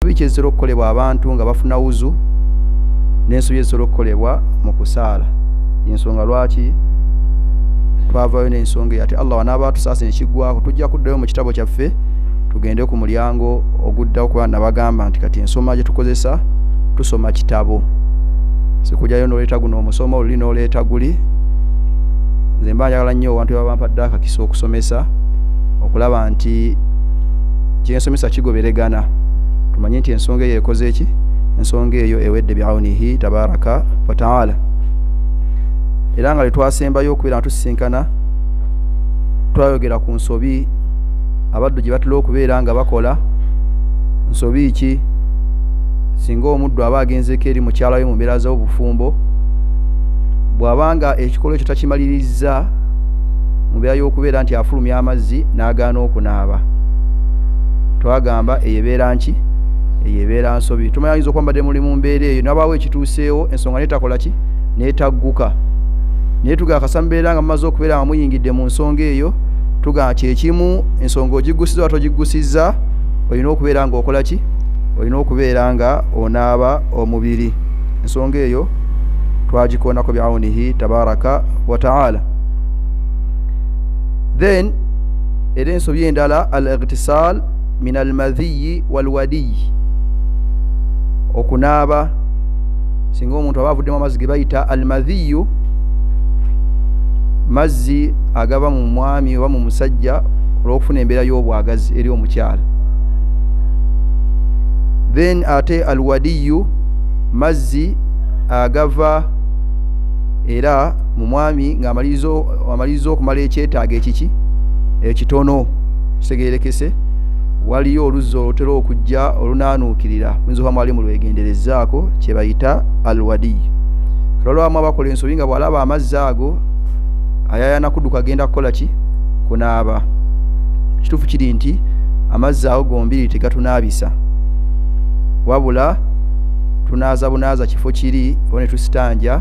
ensobi kyezitera okukolebwa abantu nga bafuna wuzu n'ensobi ezitera okukolebwa mu kusaala yensonga lwaki twavayo n'ensonga eyati allah wanaaba atusaasa nekiggwako tujja kuddayo mu kitabo kyaffe tugende ku mulyango oguddawo kuba nabagamba nti kati ensoma gyetukozesa tusoma kitabo sikujayo noleeta guno omusoma oluli noleeta guli nze mba njagala nnyo abantu babampadde akakisa okusomesa okulaba nti kyensomesa kigoberegana tumanye nti ensonga eyo ekoze eki ensonga eyo ewedde biaunihi tabaraka wataala era nga letwasembayo okubeera natusisinkana twayogera ku nsobi abaddu gye batera okubeera nga bakola nsobi ki singa omuddu aba agenzeko eri mukyala we mu mbeera z'obufumbo bw'abanga ekikolwa ekyo takimalirizza mubeera y'okubeera nti afulumya amazzi n'agaana okunaaba twagamba eyo ebeera nki eyo ebeera nsobi tumanya yinza okwambadde muli mu mbeera eyo nabaawo ekituuseewo ensonga netakola ki netagguka naye tugakasa mubeera nga mumaze okubeera nga muyingidde mu nsonga eyo tugamba kyekimu ensonga ogiggusiza oba togiggusiza olina okubeera nga okola ki olina okubeera nga onaaba omubiri ensonga eyo twagikoonako biaunihi tabaraka wataala then era ensobi endala al igtisal min almadhiyi walwadiyi okunaaba singa omuntu aba avuddemu amazzi ge bayita almadhiyu mazzi agaba mu mwami oba mu musajja olwokufuna embeera y'obwagazi eri omukyala then ate alwadiyu mazzi agava era mu mwami ng'amaliriza okumala ekyetaago ekiki ekitono kitegeerekese waliyo oluzzi olutera okujja olunaanuukirira muyinza oba mwali mulwegenderezaako kye bayita alwadiyi olwalwamu abakola ensobi nga bw'alaba amazzi ago ayayana kuduka agenda kukola ki kunaaba ekituufu kiri nti amazzi ago gombiri tegatunaabisa wabula tunaaza bunaaza kifo kiri oba netusitanja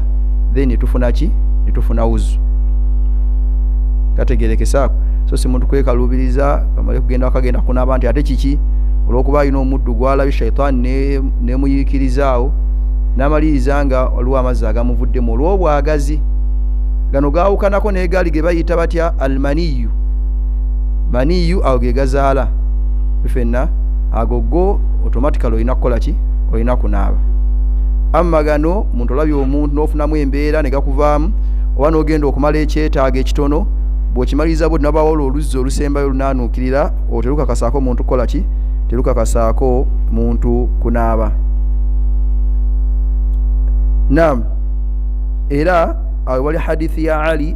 then netufuna ki netufuna wuzu tategerekesaako so si muntu kwekalubiriza amale kugenda akagenda kunaaba nti ate kiki olwokuba alina omuddu gwalabye shaitaani nemuyiikirizaawo namaliriza nga waliwo amazzi agamuvuddemu olwobwagazi gano gaawukanako negaali ge bayita batya almaniyu maniyu awo ge gazaala fenna ago go automatically olina kukola ki olina kunaaba amma gano muntu olabye omuntu n'ofunamu embeera ne gakuvaamu oba n'ogenda okumala ekyetaago ekitono bw'okimaliriza bwe tunabawo olwo oluzzi olusembayo olunaanuukirira olwo terukakasaako muntu kukola ki terukakasaako muntu kunaaba nam era awe wali hadithi ya ali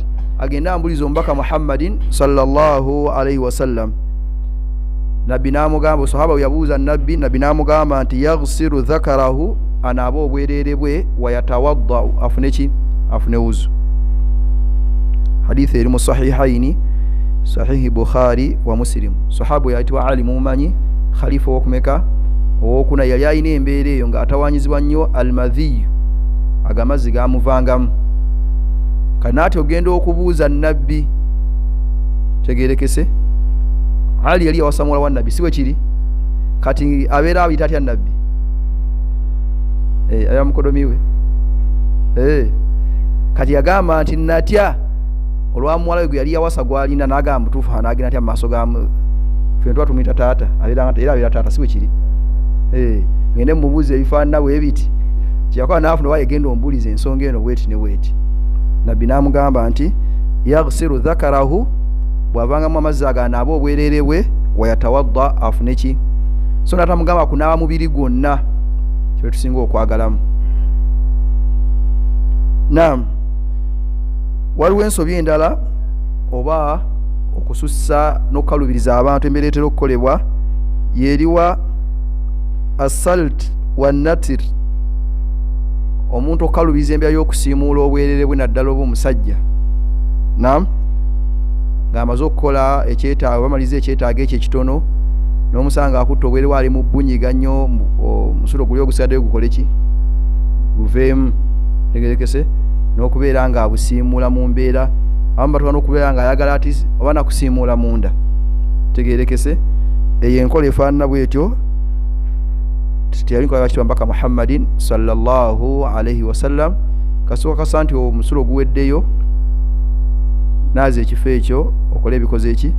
agende ambuliza omubaka muhammadin salllahu alaihi wasallam nabbi namugamba sahaba weyabuuza nabbi nabbi namugamba nti yagsiru dhakarahu anaaba obwerere bwe wayatawaddau afune ki afune wuzu hadithi eri mu sahihaini sahihi bukhari wa musilimu sahaba weyayitibwa ali mumanyi khalifa owokumeka owokuna yali alina embeera eyo nga atawanyizibwa nnyo almadhiyu agamazzi gamuvangamu kanaati ogenda okubuuza nabbi tegerekese ali yali yawasamuwala wa nabbi siwe kiri kati abeera ayita atya nabbi eh, aya mukodomiwe eh, kati yagamba nti natya olwamuwala we gwe yali yawasa gwalina nagamba mutuufu anagenda atya mumaaso ga fena tuba tumuyita taata era abeera taata siwe kiri eh, ngende mumubuuza ebifaanana bwebiti kyeyakola nafuna wayegenda ombuuliza ensonga eno bweti ne weeti nabbi n'amugamba nti yagsiru dhakarahu bw'avangamu amazzi aganaaba obwerere bwe wayatawadda afune ki so natamugamba kunaaba mubiri gwonna kyewe tusinga okwagalamu nam waliwo ensobi endala oba okusussa n'okukalubiriza abantu embeera etera okukolebwa yeriwa asalt wanatir omuntu okukalubiza embya y'okusiimuula obwerere bwe naddala oba omusajja nam ng'amaze okukola ekyetaago bamaliza ekyetaago ekyo ekitono n'omusanga akutta obwere waali mu bunyiga nnyo omusulo guli ogusigaddeyo gukole ki guveemu tegerekese n'okubeera ng'abusiimuula mu mbeera abamu batuka n'okubeera ng'ayagala ati oba nakusiimuula munda tegerekese eyo enkola efaanana bwetyo teyalinkoaakibambaka muhammadin salllahu alaihi wasallam kasooka kasa nti omusulo oguweddeyo naaza ekifo ekyo okola ebikoze eki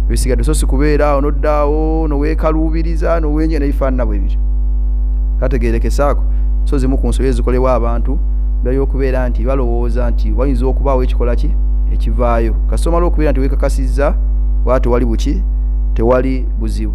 ebisigadde so sikubeeraawo noddaawo noweekaluubiriza nowenye nebifaanana bwe biri kategeerekesaako so zimu ku nsobi ezikolebwa abantu byayokubeera nti balowooza nti wayinza okubaawo ekikola ki ekivaayo kasomala okubeera nti wekakasizza waa tewali buki tewali buzibu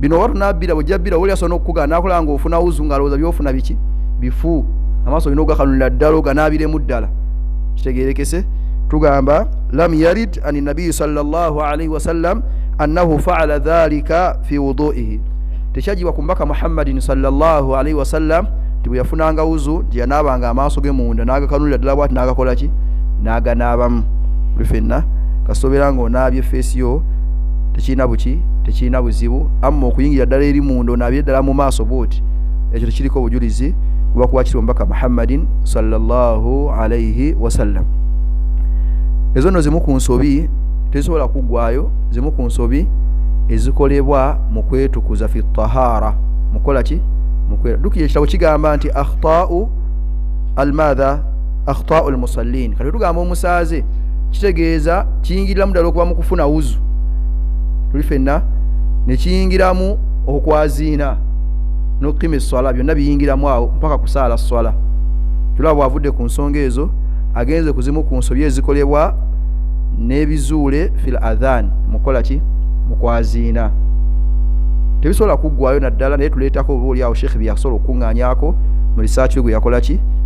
bino oba tunabbira bwojja bbira woli asobola nokukugaa nakulaba nga ofuna wuzu nga alowooza byofuna biki bifu amaaso olina ogakanulira ddala oganaabiremu ddala kitegerekese tugamba lam yarid ani nabiyi salllahalaihi wasallam annahu faala dhalika fi wuduihi tekyajibwa ku mbaka muhammadin salllahalaihi wasallam nti bwe yafunanga wuzu nti yanaabanga amaaso ge munda n'agakanulira ddala bwati n'agakola ki n'aganaabamu fenna kasobera ng'onaabye feesi yo tekirina buki tekirina buzibu amma okuyingira ddala eri munda onaabire ddala mu maaso bwoti ekyo tekiriko obujulizi lwakuba kiri omubaka muhammadin salllahu alaihi wasallam ezo nno zimu ku nsobi tezisobola kuggwayo zimu ku nsobi ezikolebwa mu kwetukuza fi tahara mukola ki mukwera dukira ekitabo kigamba nti akhtaau almadha akhtaul musallin kati tugamba omusaaze kitegeeza kiyingiriramu ddala okuba mu kufuna wuzu tuli fenna nekiyingiramu okwaziina nokukima eswala byonna biyingiramu awo mpaka kusaala swala tulaba bwavudde ku nsonga ezo agenze kuzimu ku nsobi ezikolebwa n'ebizuule fil adhan mukola ki mukwaziina tebisobola kuggwayo naddala naye tuleetako oba oliawo sheekhe byeyasobola okukuŋŋanyako mu risaaki we gwe yakola ki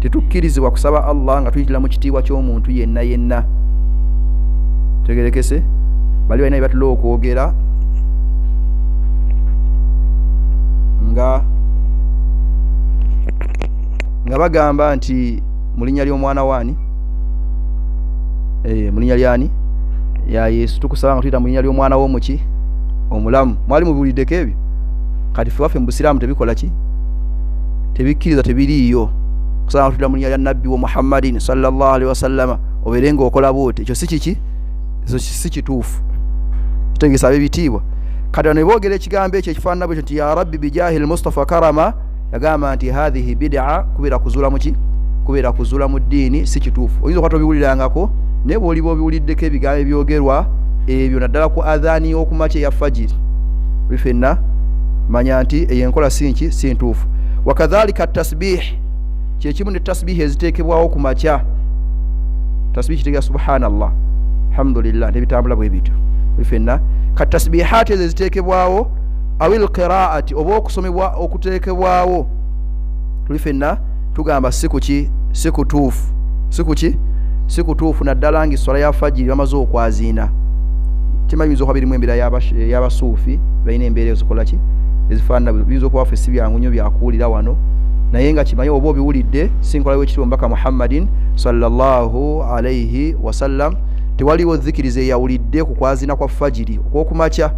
tetukkirizibwa kusaba allah nga tuyitira mu kitiibwa ky'omuntu yenna yenna tegerekese bali balina byebatula okwogera nga nga bagamba nti mu linnya ly'omwana waani eh, mu linnya lyani ya yesu tukusaba nga tuyita mu linnya ly'omwana w'omuki omulamu mwali mubuliddeko ebyo kati fe waffe mu busiraamu tebikola ki tebikkiriza tebiriiyo kusanga tula munya lya nabbi wa muhammadin salllah alihi wasallama obeere nga okola bwoti ekyo si kiki ekyo si kituufu kitegesa abebitiibwa kati bano beboogera ekigambo ekyo ekifaanana bwekyo nti ya rabbi bijahi lmustafa karama yagamba nti hathihi bidaa kubeera kuzuula muki kubeera kuzuula mu ddiini si kituufu oyinza okwata obiwulirangako naye bwoliba obiwuliddeko ebigambo ebyogerwa ebyo naddala ku adhaani y'okumakya eya fajiri fenna manya nti eyo enkola sinki si ntuufu wakadhalika tasbih kyekimu ne tasbihi eziteekebwawo ku makya tasbihi kitegera subhanallah alhamdulillah nebitambula bwe bityo fenna ka tasbihaati ezo eziteekebwawo awil qiraati oba okusomebwa okuteekebwawo tuli fenna tugamba si kuki si kutuufu si kuki si kutuufu naddala nga esswala ya fajiri bamaze okwaziina kimanyi biyinza okuba birimu embeera y'abasuufi balina embeera ezikola ki ezifaanana biyinza okuba ffe si byangu nnyo byakuwulira wano naye nga kimanyi oba obiwulidde sinkola wekitibwa mbaka muhammadin sallallahu alaihi wasallam tewaliwo zikiriza eyawulidde ku kwaziina kwa fajiri okwokumakya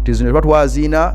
tizino tuba twaziina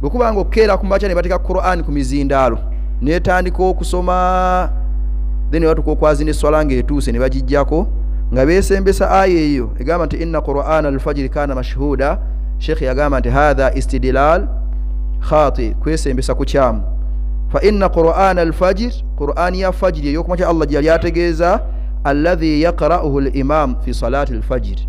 bwe kuba nga okukeera ku makya ne bateeka qurani ku mizindaalo netandika okusoma then nebatuka okwazi neswala nga etuuse ne bagijjako nga besembesa aya eyo egamba nti inna qurana alfajiri kana mashhuda sheikh yagamba nti hatha istidlal khati kwesembesa kukyamu fa inna qurana alfajir qurani ya fajiri eyokumakya allah gyeyali ategeeza alladhi yaqra'uhu limam fi salati alfajiri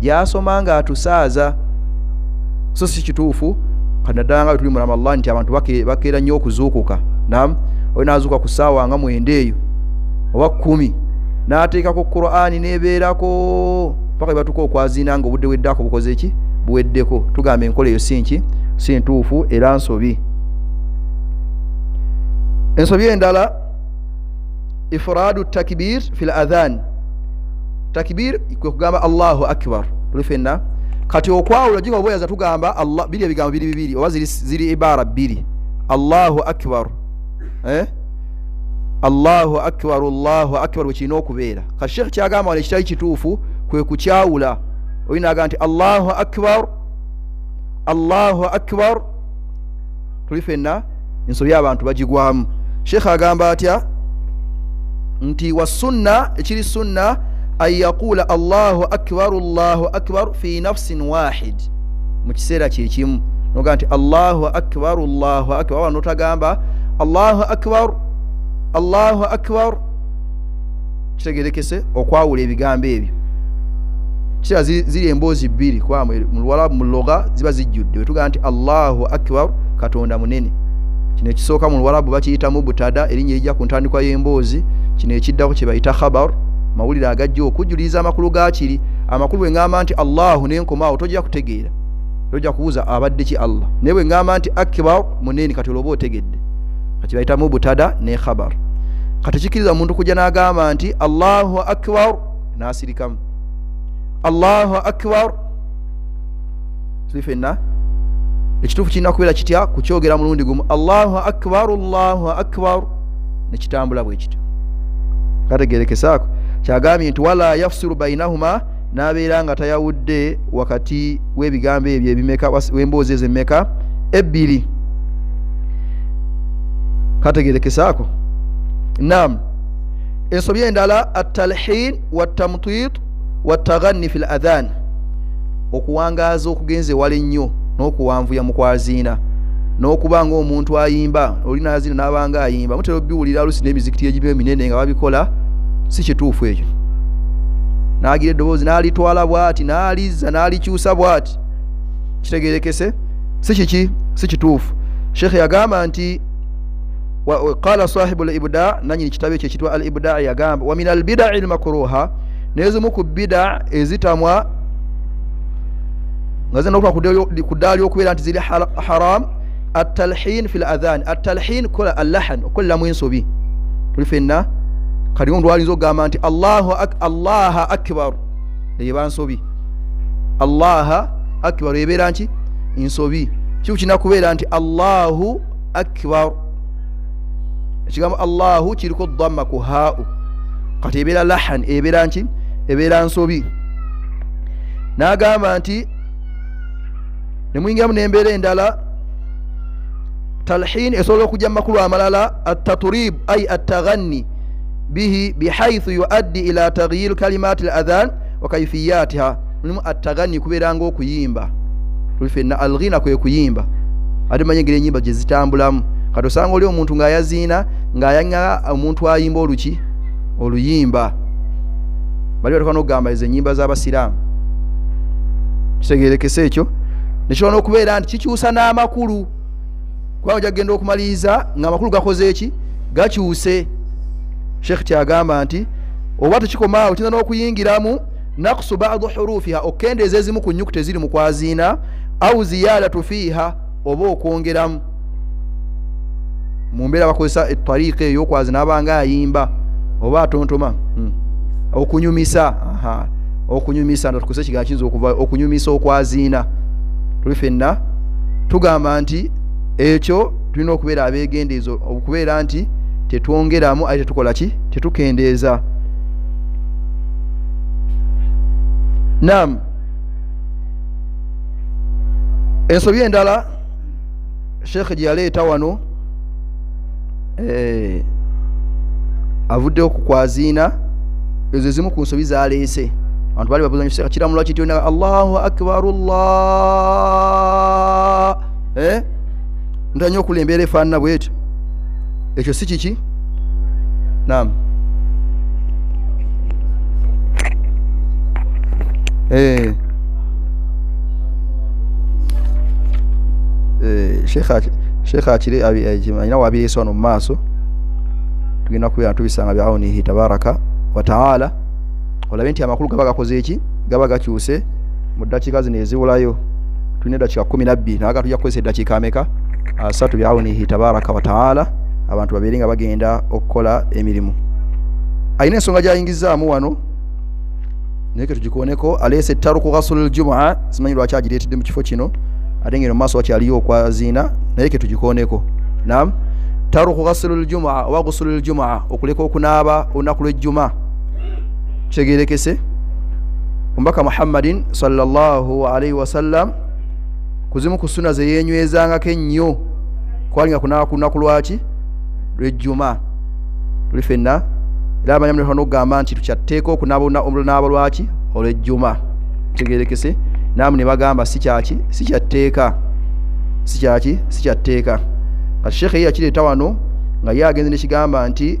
gyasoma nga atusaaza so si kituufu kanaddala nga wetuli mu ramadan nti abantu bakeera nnyo okuzuukuka nam oyo nazuuka ku saawa nga mwenda eyo oba kumi nateekako qurani nebeerako paka bebatuka okwazina nga obudde weddako bukoze ki buweddeko tugamba enkola eyo sinki si ntuufu era nsobi ensobi endala ifraadu takibir fi l adhan takibir kwe kugamba allahu akbar tuli fenna kati okwawula jiga obweyaza tugamba allah biri ebigambo biri bibiri oba ziri, ziri ibara bbiri allahu akbar eh? allahu akbar allahu akbar wekirina okubeera kati sheekh kyagamba wano ekitali kituufu kwe kukyawula oyinaga nti allahu akbar allahu akbar tuli fenna ensobi abantu bagigwamu sheekh agamba atya nti wasunna ekiri sunna an yaquula allahu akbaru llahu akbaru fi nafsin wahid mu kiseera kyekimu noga nti allahu akbaru llahu akbar wanotagamba allahu akbar allahu akbar kitegerekese okwawula ebigambo ebyo kira ziri emboozi bbiri kuba muluwalabu muloga ziba zijjudde wetugaa nti allahu akbar katonda munene kino ekisooka mu luwalabu bakiyitamu butada erinnya erijja ku ntandikwa y'emboozi kino ekiddako kye bayita khabar mawulire agajja okujuliriza amakulu gakiri amakulu bwe ngamba nti allahu nenkomaawo tojja kutegeera tojja kubuuza abadde ki allah naye bwe ngamba nti akbar munene kati olwoba otegedde kati bayitamu butada ne khabar kati kikiriza omuntu kujja nagamba nti allahu akbar nasirikamu allahu akbar tuli fenna ekituufu kirina kubeera kitya kukyogera mulundi gumu allahu akbar allahu akbar nekitambula bwekityo kategerekesaako kyagambye nti wala yafsiru bainahuma n'abeera nga tayawudde wakati w'ebigambo ebyo ebimeka w'emboozi ezo emmeka ebbiri kategerekesaako nam ensobi endala atalhin watamtit wataghanni fi l adhan okuwangaaza okugenza ewala ennyo n'okuwanvuya mu kwaziina n'okuba ng'omuntu ayimba oli naziina n'abanga ayimba mutera obiwulira olusi n'emizikiti egimu eminene nga babikola si kituufu ekyo n'agira eddoboozi n'alitwala bw'ati n'alizza n'alikyusa bw'ati kitegerekese si kiki si kituufu sheekhe yagamba nti qala sahibu libuda nanyini kitabo ekyo ekitwa al ibuda yagamba wa min albidai lmakruha nezimu ku bida ezitamwa nga zirina okuba ku ddaala ly'okubeera nti ziri haram atalhin fi ladhan atalhin kola allahan okukoleramu ensobi tuli fenna kati omuntu alinza okugamba nti allaha akbaru eyeba nsobi allaha akbaru ebeera nki nsobi kiku kirina kubeera nti allahu akbaru ekigambo allahu kiriko dhamma ku haau kati ebeera lahan ebeera nki ebeera nsobi n'agamba nti nemuyingiramu nembeera endala talhin esobola okujja mumakulu amalala ataturib ai ataghanni bihi bihaithu yuaddi ila tagyir kalimat l adhan wakaifiyatiha mulimu ataghanni kubeera nga okuyimba tuli fenna alghina kwe kuyimba ate manya engeri enyimba gyezitambulamu kati osanga oli omuntu ng'ayaziina ng'ayanga omuntu ayimba oluki oluyimba bali batuka nokugamba ezo enyimba zabasiraamu kitegerekese ekyo nekisobola nokubeera nti kikyusa n'amakulu kubanga oja kugenda okumaliriza nga amakulu gakoze eki gakyuse sheekh kyagamba nti oba tekikomaawo kiyinza n'okuyingiramu nakusu badu hurufiha okukendeeza ezimu ku nyukuta eziri mu kwaziina au ziyadatu fiiha oba okwongeramu mu mbeera bakozesa etariika eyokwazi nabanga ayimba oba atontoma hmm. okunyumisa okunyumisa natukozesa ekigaa kiyinza okuva okunyumisa okwaziina tuli fenna tugamba nti ekyo tulina okubeera abegendeezo okubeera nti tetwongeramu aye tetukola ki tetukendeeza nam ensobi endala sheekhe gye yaleeta wano eh, avuddeho ku kwaziina ezo ezimu ku nsobi zaleese abantu bali babuza nyo kiramula kityo na allahu akbaru llah eh? ntera nyo okula embeera efaanana bwetyo ekyo si kiki nam eh. eh, sheekh akire alina wabireesa wano mu maaso tugenda kubeera tubisanga biawunihi tabaraka wataala olabe nti amakulu gaba gakoze eki gaba gakyuse mu ddakiika zino eziwulayo tulina eddakiika kumi nabbiri naga tujja kukozesa eddakiika ameka asatu byawunihi tabaraka wataala abantu babeere nga bagenda okukola emirimu alina ensonga gyayingizaamu wano naye ketugikoneko aleese taruku ghasulu ljumua simanyi lwaki agireetedde mu kifo kino ate ngeno mumaaso wakyaliyo okwaziina naye ketugikoneko nam taruku ghasulu ljumua oba ghusulu ljumua okuleka okunaaba olunaku lwejjuma kitegerekese omubaka muhammadin salllahalaihi wasallam kuzimu ku suna zeyenywezangako ennyo kwalinga kunaba ku lunaku lwaki lwejjuma tuli fenna era amanya mulekwa nokugamba nti tukyatteeka okunabnaaba lwaki olwejjuma kitegerekese naamu ne bagamba sikyaki sikyatteeka sikyaki sikyatteeka kati sheekhe ye yakireeta wano nga ye agenze nekigamba nti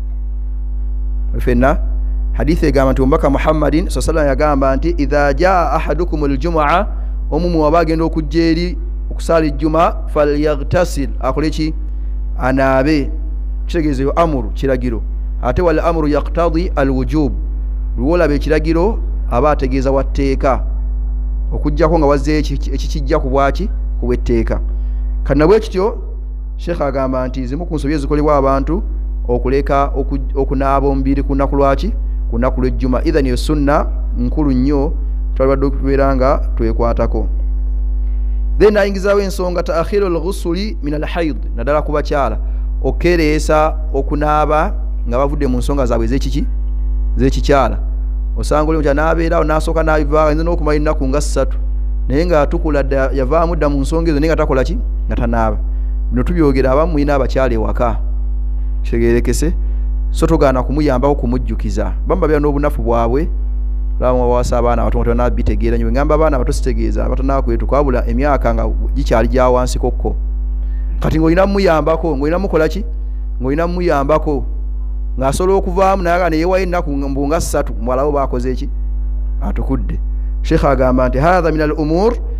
fenna haditha egamba nti omubaka muhammadin sa sallam yagamba nti idha jaa ahadukum aljumaa omu mwaba agenda okujja eri okusaala ejjuma falyaghtasil akole ki anaabe kitegeeza eyo amuru kiragiro ate wal amuru yaktadi alwujub lwolaba ekiragiro aba ategeeza wa tteeka okujjako nga wazze ekikijja ku bwaki ku bwetteeka kanabwekityo sheekh agamba nti zimu ku nsobi ezikolebwa abantu okuleka okunaaba omubiri ku lunaku lwaki ku lunaku lwejjuma ithan eyo sunna nkulu nnyo twalibadde okubeera nga twekwatako then ayingizawo ensonga taakhiru lghusuli min alhaid naddala ku bakyala okukereesa okunaaba nga bavudde mu nsonga zaabwe ezekiki zekikyala osanga oli mukyala nabeerawo nasooka nabiva ayinza nokumala ennaku nga ssatu naye nga tukula yavaamu dda mu nsonga ezo naye nga takola ki nga tanaaba bino tubyogera abamu mulina abakyala ewaka kitegerekese so togaana kumuyambako kumujjukiza bamba bera n'obunafu bwabwe bawasa abaana abato ngatanaba bitegeera nyo ngamba abaana abato sitegeeza abatanaba kwetuka wabula emyaka nga gikyali gyawansikokko kati ngaolina muyambako ngaolina mukolaki ngaolina muyambako ngaasobola okuvaamu naye aga neyewayo ennaku mbunga ssatu muwalawo bakoze eki atukudde sheikh agamba nti hatha min al umur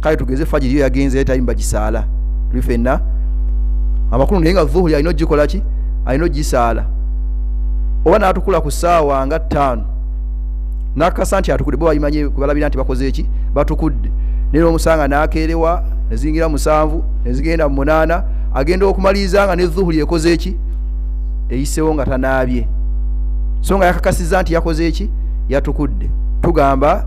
kale tugeze fajiri yo yagenze ye tayimba gisaala tuli fenna amakulu naye nga dhuhuri alina ogikola ki alina ogisaala oba natukula ku saawa nga ttaano nakasa nti atukudde bo bayimanye kubalabira nti bakoze eki batukudde naye nomusanga nakeerewa nezingira musanvu nezigenda mu munaana agenda okumaliriza nga ne dhuhuri ekoze eki eyisewo nga tanaabye so nga yakakasiza nti yakoze eki yatukudde tugamba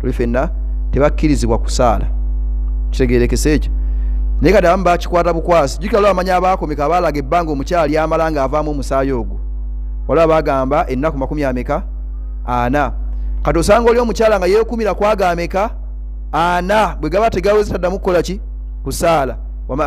tuli fenna tebakkirizibwa kusaala kitegerekese ekyo naye kati abamu bakikwata bukwasi jukira lwa amanya abaakomeka abaalaga ebbanga omukyali amala nga avaamu omusaayi ogwo waliwo bagamba ennaku makumi ameka ana kati osanga oli omukyala nga yekumira kwagameka ana bwe gaba tegawezi taddamu kukola ki kusaala wama